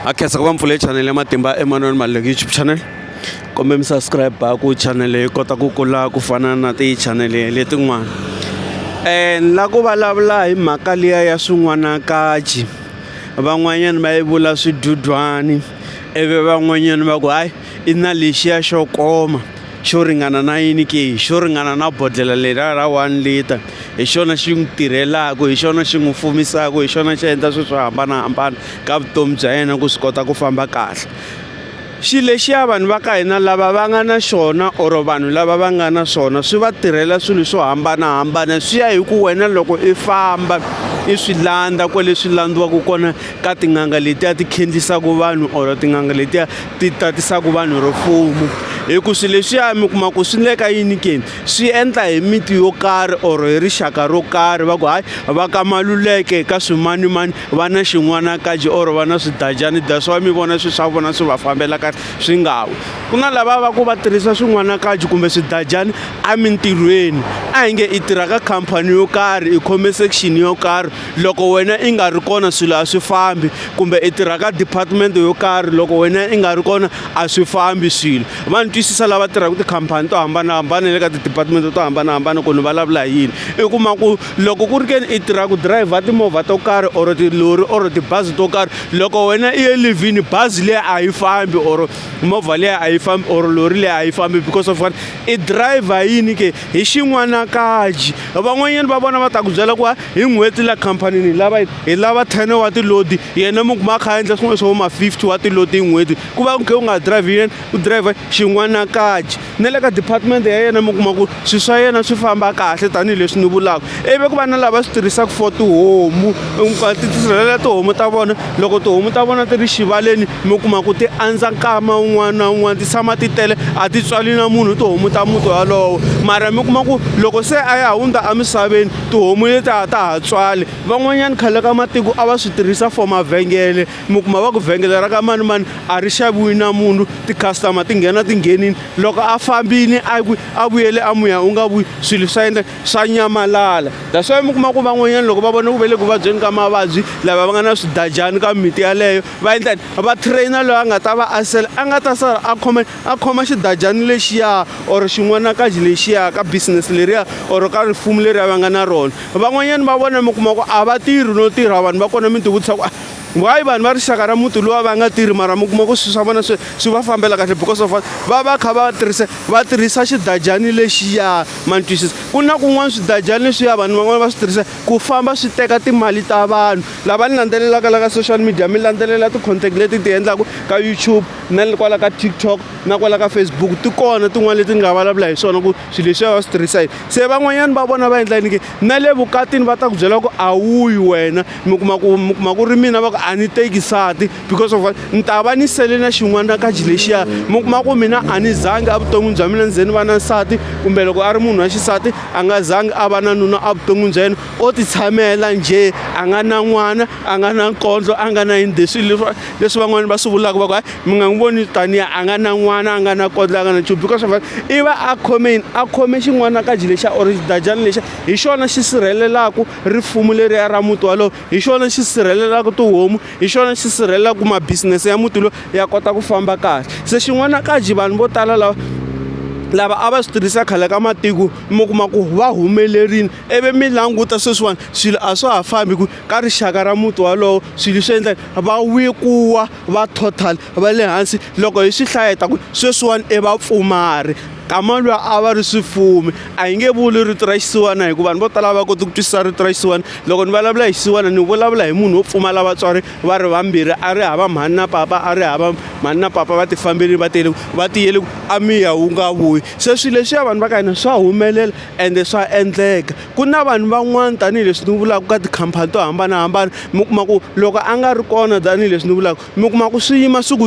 a khensa ku va mpfule channel ya matimba emanweni maleki youtube channel kumbe mi subscribe ku channel yi kota ku kula ku fana na ti-channel letin'wana um la ku vulavula hi mhaka liya ya swin'wanakaji van'wanyana va yi vula swidudwani ivi van'wanyana va ku hayi i na lexiya xo koma xo ringana na yini ke xo ringana na bodlhela leriya ra one liter hi xona xi n'wi tirhelaka hi xona xi n'wi fumisaka hi xona xi endla swilo swo hambanahambana ka vutomi bya yena ku swi kota ku famba kahle xilo lexiya vanhu va ka hina lava va nga na xona or vanhu lava va nga na swona swi va tirhela swilo swo hambanahambana swi ya hi ku wena loko i famba i swi landza kwale swi landziwaka kona ka tin'anga letiya ti khendzisaka vanhu or tin'anga letiya ti tatisaka vanhu ro fumo hi ku swilo leswiya mi kuma ku swi le ka yini ke swi endla hi miti yo karhi or hi rixaka ro karhi va ku hayi va ka maluleke ka swimanimani va na xin'wanakaji or va na swidajani that's why mi vona swilo swa vona swi va fambela kahle swi nga wi ku na lava va ku va tirhisa swin'wanakaji kumbe swidajani emintirhweni a hi nge i tirha ka khampani yo karhi i khome section yo karhi loko wena i nga ri kona swilo a swi fambi kumbe i tirha ka department yo karhi loko wena i nga ri kona a swi fambi swilo va ni twisisa lava tirhaka tikhampani to hambanahambana le ka ti-department to hambanahambana ku ni vulavula hi yini i kuma ku loko ku ri ke ni i tirha ku dirayivha timovha to karhi or tilori or tibazi to karhi loko wena i ye livhini bazi leyi a yi fambi or movha leyi a yi fambi or lori leyi a yi fambi because of what i dirayivha yini ke hi xin'wanakaji van'wanyani va vona va ta ku byela ku hi n'hweti la khampanini hi lava hi lava ten wa tilodi yena mi kuma a kha a endla swin'wana swo ma fifty wa tilodi hi n'hweti ku va ku khe u nga drive yena u driver xin'wana kaji na le ka department ya yena mi kuma ku swilo swa yena swi famba kahle tanihileswi ni vulaka ivi ku va na lava swi tirhisaka for tihomu ti tisirhelela tihomu ta vona loko tihomu ta vona ti ri xivaleni mi kuma ku ti andza nkama un'wana na un'wana ti tshama ti tele a ti tswali na munhu tihomu ta muti walowo mara mi kuma ku loko se a ya hundza emisaveni tihomu leti a ta ha tswali van'wanyana khale ka matiko a va swi tirhisa for mavhengele mi kuma va ku vhengele ra ka manimani a ri xaviwi na munhu ti-customer ti nghena ti nghenini loko a fambini a ku a vuyele a muya u nga vuyi swilo swa endla swa nyamalala that's why mi kuma ku van'wanyana loko va vona ku ve le ku vabyeni ka mavabyi lava va nga na swidajani ka mimiti yaleyo va endlani va trainer loyi a nga ta va a sele a nga ta sala a khome a khoma xidajani lexiya or xin'wanakaji lexiya ka business leriya or ka rifumu leri a va nga na rona van'wanyana va vona mi kuma ku a va tirhi no tirha vanhu va kona mi tivutisa ku ah, why vanhu va rixaka ra muti lowa va nga tirhi mara mi kuma ku swilo swa vona swi swi va fambela kahle because of va va kha va tirhisa va tirhisa xidajani lexiya mantwisisa ku na kun'wana swidajani leswiya vanhu van'wana va swi tirhisa ku famba swi teka timali ta vanhu lava ni landzelelaka la ka social media mi landzelela ti-contact leti ti endlaka ka youtube na le kwala ka tiktok na kwala ka facebook ti kona tin'wana leti ni nga vulavula hi swona ku swilo leswiya va swi tirhisa yini se van'wanyana va vona va endla yini ke na le vukatini va ta ku byela ku a wuyi wena mi kuma ku mi kuma ku ri mina va ku a ni teki sati because of ni ta va ni sele na xin'wana kaji lexiya mi kuma ku mina a ni zangi evuton'wini bya mina ni ze ni va na nsati kumbe loko a ri munhu wa xisati a nga zangi a va na nuna evuton'wini bya yena o titshamela njhe a nga na n'wana a nga na nkondlo a nga na yini leswi leswi van'wana va swi vulaka va ku mi nga n'wi voni tanihi a nga na n'wana a nga na kondlo a nga na nchumu because of i va a khome yini a khome xin'wana ka ji lexa or xidajana lexa hi xona xi sirhelelaka rifumo leriya ra muti walowo hi xona xi sirhelelaka tihomu hi xona xi sirhelelaka ma-business ya muti lowu ya kota ku famba kahle se xin'wana ka ji vanhu vo tala lava lava a va swi tirhisa khale ka matiko mi kuma ku va humelerile ivi mi languta sweswiwani swilo a swa ha fambi hi ku ka rixaka ra muti wolowo swilo leswi endlaka va weak-iwa va total va le hansi loko hi swi hlaya hi ta ku sweswiwani i vapfumari kama luya a va ri swifumi a hi nge vuli rito ra xisiwana hikuva vanhu vo tala a va koti ku twisisa rito ra xisiwana loko ni vulavula hi xisiwana ni vulavula hi munhu wo pfumala vatswari va ri vambirhi a ri hava mhani na papa a ri hava mhani na papa va ti fambelini va tele va tiyele ku a miya wu nga vuyi se swilo leswiya vanhu va ka hina swa humelela ende swa endleka. ku na vanhu van'wana tanihileswi ni vulaka ka tikhampani to hambanahambana mi kuma ku loko a nga ri kona tanihileswi ni vulaka mi kuma ku swi yima swi ku .